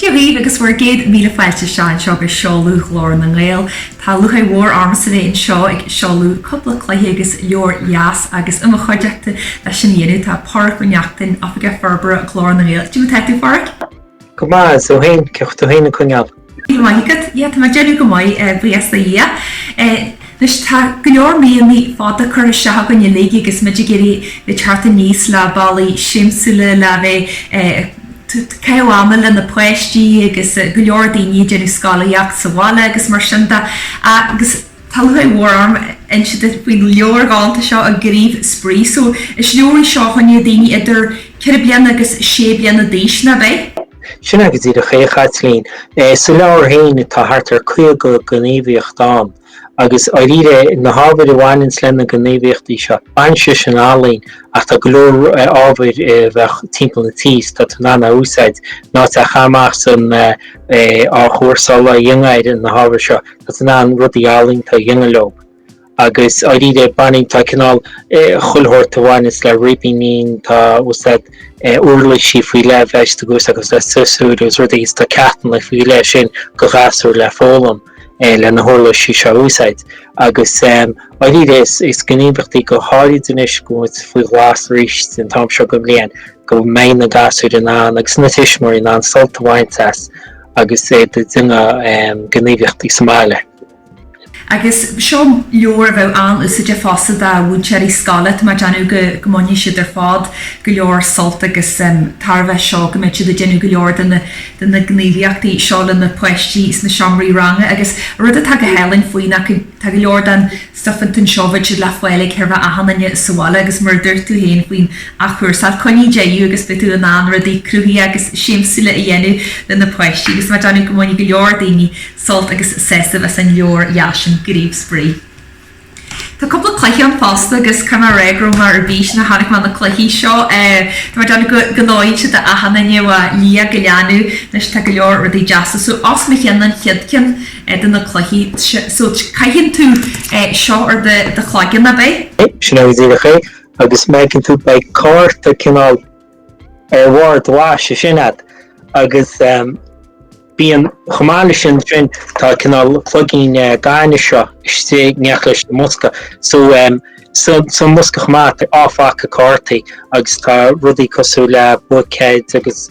Dia dhaoibh agus bhur gcéad míle fáilte isteach anseo go seoladh Ghlór na nGael. Tá lúcháir mhór ormsa bheith anseo ag seoladh cúpla cluiche agus leabhar dheas agus i mo chuideachta leis sin a dhéanamh tá Páraic Ó Neachtain, Oifigeach Forbartha Ghlór na nGael. Cad é mar atá tú a Pháraic? Go maith, is tú fhéin, cén chaoi a bhfuil tú fhéin ag coinneáil? Míle maith agat. Bhuel, tá mé ag déanamh go maith, buíochas do Dhia. Anois, tá go leor míonna fada curtha isteach againn uilig agus muid ag iarraidh theacht aníos le bealaí siamsúla le bheith ag caitheamh ama le na páistí agus go leor daoine ag déanamh scolaíocht sa bhaile agus mar sin de agus, Tá lúcháir mhór orm inse duit faoin leabhar galánta seo Gníomh Spraoi. So, is leabhar í seo choinne daoine idir ceithre bliana agus sé bliana d'aois, an ea? Sin agat díreach é, a Chaitlín. Sa leabhar féin, tá thart ar 50 gníomhaíocht ann. Agus, dháiríre, na hábhair a bhaineanns le na gníomhaíochtaí seo, baineann siad sin le ealaín, ach tá go leor ábhair a bheadh timpeall an tí 's tá tú in ann a úsáid, nó atá caite amach san athchúrsáil, go bhféadfá na hábhair seo. Is in ann rudaí ealaíonta a dhéanamh leo agus dháiríre baineann, tá cineál chuile shórt a bhaineas le ribíní, tá úsáid uirlisí faoi leith a bheith agat agus le siosúr agus rudaí agus tá ceachtanna faoi leith ansin do ghasúir le foghlaim le na huirlisí seo a úsáid. Agus dháiríre is gníomhaíochtaí go háirid anois go bhfuil muid faoi ghlas arís den t-am seo go bhliain go mbeidh na gasúir in ann agus na tuismitheoirí in ann sult a bhaint as agus iad ag déanamh gníomhaíochtaí sa mbaile. Agus seo leabhar a bheadh an-úsáideach fosta do mhúinteoirí scoile, tá mé ag déanamh go mbainfidh siad ar fad go leor sult agus tairbhe as seo, go mbeidh siad ag déanamh go leor de na gníomhaíochtaí seo leis na páistí sna seomraí ranga. Agus rud atá go hálainn faoi ná go. Tá go leor den stuif ansin beidh siad le fáil ag achan duine sa bhaile agus mar a dúirt tú féin faoin athchúrsáil, coinnigh é agus beidh tú in ann rudaí cruthaithe agus siamsúla a dhéanamh le na páistí agus tá mé ag déanamh go mbainfidh go leor daoine sult agus sásamh as an leabhar dheas sin, Gníomh Spraoi. Tá cúpla cluiche ann fosta agus cinnte go raibh mé ar bís nuair a chonaic mé na cluichí seo. Tá mé ag déanamh go mbeidh siad d'achan duine ó liath go leanbh, anois tá go leor rudaí deasa, so is maith liom an chéad ceann. de na cluichí so caitheann tú é seo ar do chloigeann, ab é? Sea, sin agat díreach é, agus má fheiceann tú beidh cárta cineál ar bharr do bhaithis ansin agat, agus bíonn chomh maith leis sin sin tá cineál cloigín gainimh seo istigh in éineacht leis an mbosca so san mbosca chomh maith tá ábhar cártaí agus tá rudaí cosúil le buicéid agus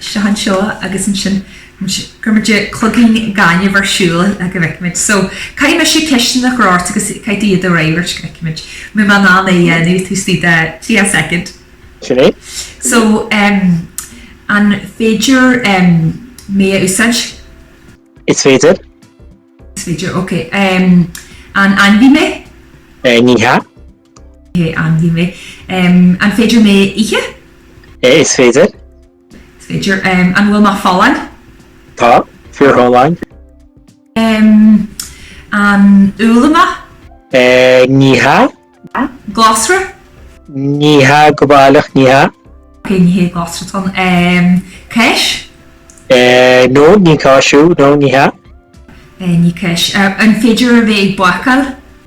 Seo anseo agus ansin cuirfimid cloigín gainimh ar siúl le go bhfeicfimid. So, caithfidh mise ceisteanna a chur ort agus caithfidh tú iad a fhreagairt go bhfeicfimid an bhfuil mé in ann é a dhéanamh taobh istigh de 30 soicind. Sin é. So, an féidir mé a úsáid? Is féidir. Is féidir, ok. An ainmhí mé? Ní hea. Hé, ainmhí mé. An féidir mé a ithe? Eh, is féidir. Is féidir. An bhfuil mé folláin? Tá, fíorfholláin. An úll mé? Eh, ní hea. Glasra? Ní hea go baileach, ní hea. Ok, ní hea glasra atá ann. Cáis? Eh, no, ní cáis thú, no, ní hea. Eh, ní cáis. An féidir a bheith ag bácáil?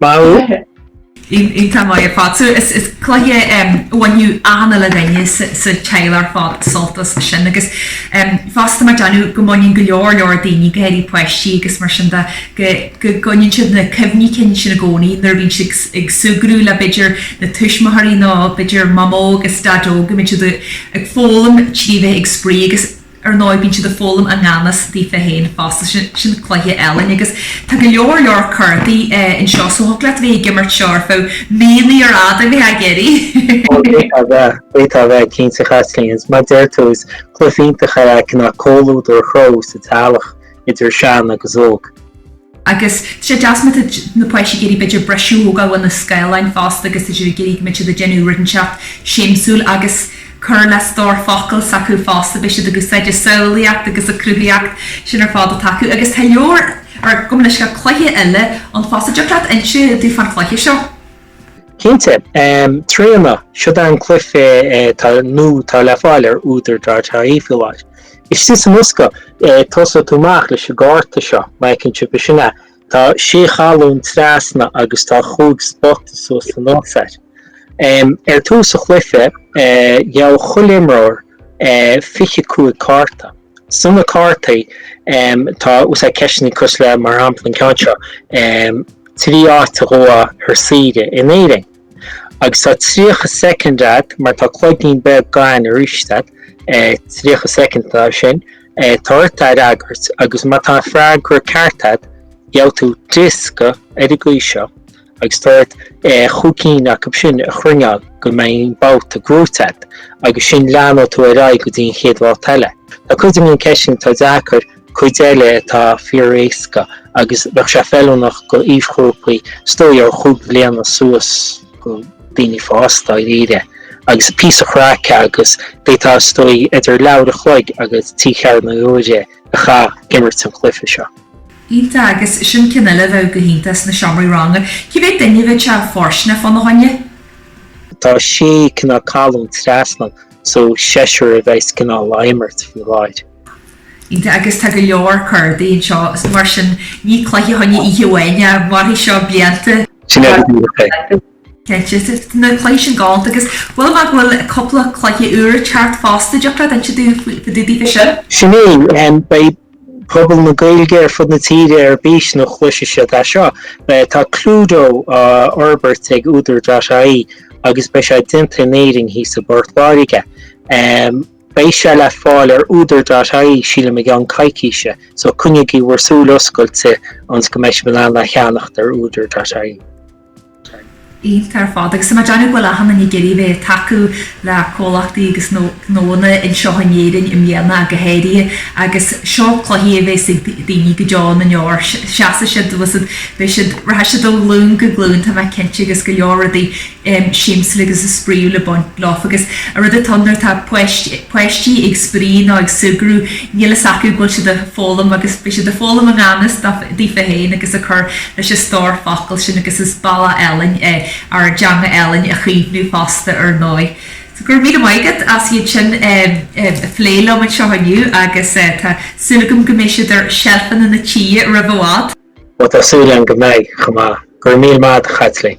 Maith thú. Iontach maith ar fad. So is is cluiche a bhainfeadh achan uile dhuine sa sa teaghlach ar fad sult as sin agus em fosta tá mé ag déanamh go mbaineann go leor leor daoine go háirithe páistí agus mar sin de go go gcoinníonn siad na cuimhní cinn sin i gcónaí nuair a bhíonn siad ag súgradh le b'fhéidir na tuismitheoirí nó b'fhéidir mamó agus daideo go mbeidh siad ag foghlaim trí bheith ag spraoi agus Ar ndóigh, bíonn siad ag foghlaim i ngan fhios daofa féin fosta, sin cluiche álainn. Agus tá go leor leor cártaí anseo, so thig leat a bheith ag imirt seo ar feadh míonna ar fad, a bheith ag iarraidh! Ó, d'fhéadfá a bheith, d'fhéadfá a bheith, cinnte, a Chaitlín. Is mar a deir tú, is cluiche iontach é le cineál comhluadar a chruthú sa teaghlach, idir sean agus óg. Agus tá sé deas má tá na páistí ag iarraidh b'fhéidir briseadh a thógáil uaidh na scáileáin fosta agus tá siad ag iarraidh go mbeidh siad ag déanamh rud inteacht siamsúil agus cur le stór focal s'acu fosta, beidh siad ag úsáid a samhlaíocht agus an chruthaitheacht, sin ar fad atá acu. Agus tá leabhar, er, gabh mo leithscéal, cluiche eile ann fosta. An dtiocfadh leat inse domh fán chluiche seo? Cinnte. Tríona, seo é an cluiche atá nua atá le fáil ar údar dot ie leis. Istigh sa mbosca, tosóidh tú amach leis an gcárta seo, Maidhcín seo, b'shin é. Tá sé cholún trasna agus tá chúig spota suas anuas air. Ar dtús an chluiche, gheobhaidh chuile imreoir fiche cúig cárta. So na cártaí, tá a fhios agat ceisteanna cosúil le, mar shampla, an ceann seo, trí áit a ghabhfá ar saoire in Éirinn. Agus tá 30 soicind agat, mar tá cloigín beag gainimh arís agat, 30 soicind atá ansin, tá ort a fhreagairt, agus má tá an freagra ceart agat, gheobhaidh tú diosca ar an gcaoi seo, agus tá ort chúig cinn acu sin a chruinneáil go mbeidh an babhta gnóite agat, agus ansin leanfaidh tú ar aghaidh go dtí an chéad bhabhta eile. Tá cuid de na ceisteanna atá deacair, Cuid eile atá fíoréasca agus bheadh sé feiliúnach do aoisghrúpaí is dóigh ó chúig bhliana suas go daoine fásta dáiríre. agus píosa craice agus d'fhéadfá is dóigh idir leathuair a chloig agus trí cheathrú uaire a chaitheamh ag imirt an chluiche seo. Iontach agus sin ceann eile a bheadh go hiontach sna seomraí ranga. Cá mhéad duine a bheadh sé fóirsteanach fána choinne? Tá sé cineál colún trasna so seisear a bheas cineál á imirt faoi láthair. Agus tá go leor cártaí anseo, so mar sin, ní cluiche fá choinne oíche amháin é, mairfidh seo blianta. Sin é go díreach é. Cinnte, na cluichí sin galánta agus chuala mé go bhfuil cúpla cluiche úr ag teacht fosta, thiocfadh leat insint dúinn faoi sin? Sin é, beidh pobal na Gaeilge ar fud na tíre ar bís nó chloisfidh siad é seo. Tá Cluedo á fhorbairt ag Údar.ie agus beidh sé déanta in Éirinn thíos i bPort Láirge. Beidh sé le fáil ar údar.ie sílim i gceann coicíse, so coinnígí bhur súil oscailte ionns go mbeidh sibh in ann é a cheannacht ar údar.ie. Iontach ar fad, agus tá mé ag déanamh go bhfuil achan duine ag iarraidh a bheith ag tacú le comhlachtaí agus gnónna anseo in Éirinn i mbliana ach go háirithe agus seo cluichí a bheas ag daoine go deo na ndeor. Seasfaidh siad, beidh siad, beidh siad, rachaidh siad ó ghlúin go glúin tá mé cinnte agus go leor rudaí em siamsúla agus spraíúla le baint leofa agus a rud atá nuair atá páist páistí ag spraoi nó ag súgradh níl fhios acu go bhfuil siad a' foghlaim agus beidh siad a' foghlaim a nganfhios dá daofa féin agus a' cur leis a' stór focal sin agus is bealach álainn é ár dteanga álainn a chaomhnú fosta ar ndóigh. So go raibh míle maith agat as iad sin em em a phlé liom anseo inniu agus eh tá súil agam go mbeidh siad ar seilfeanna na dtithe roimh i bhfad. Bhuel tá súil agam go mbeidh chomh maith. Go raibh míle maith agat a Chaitlín.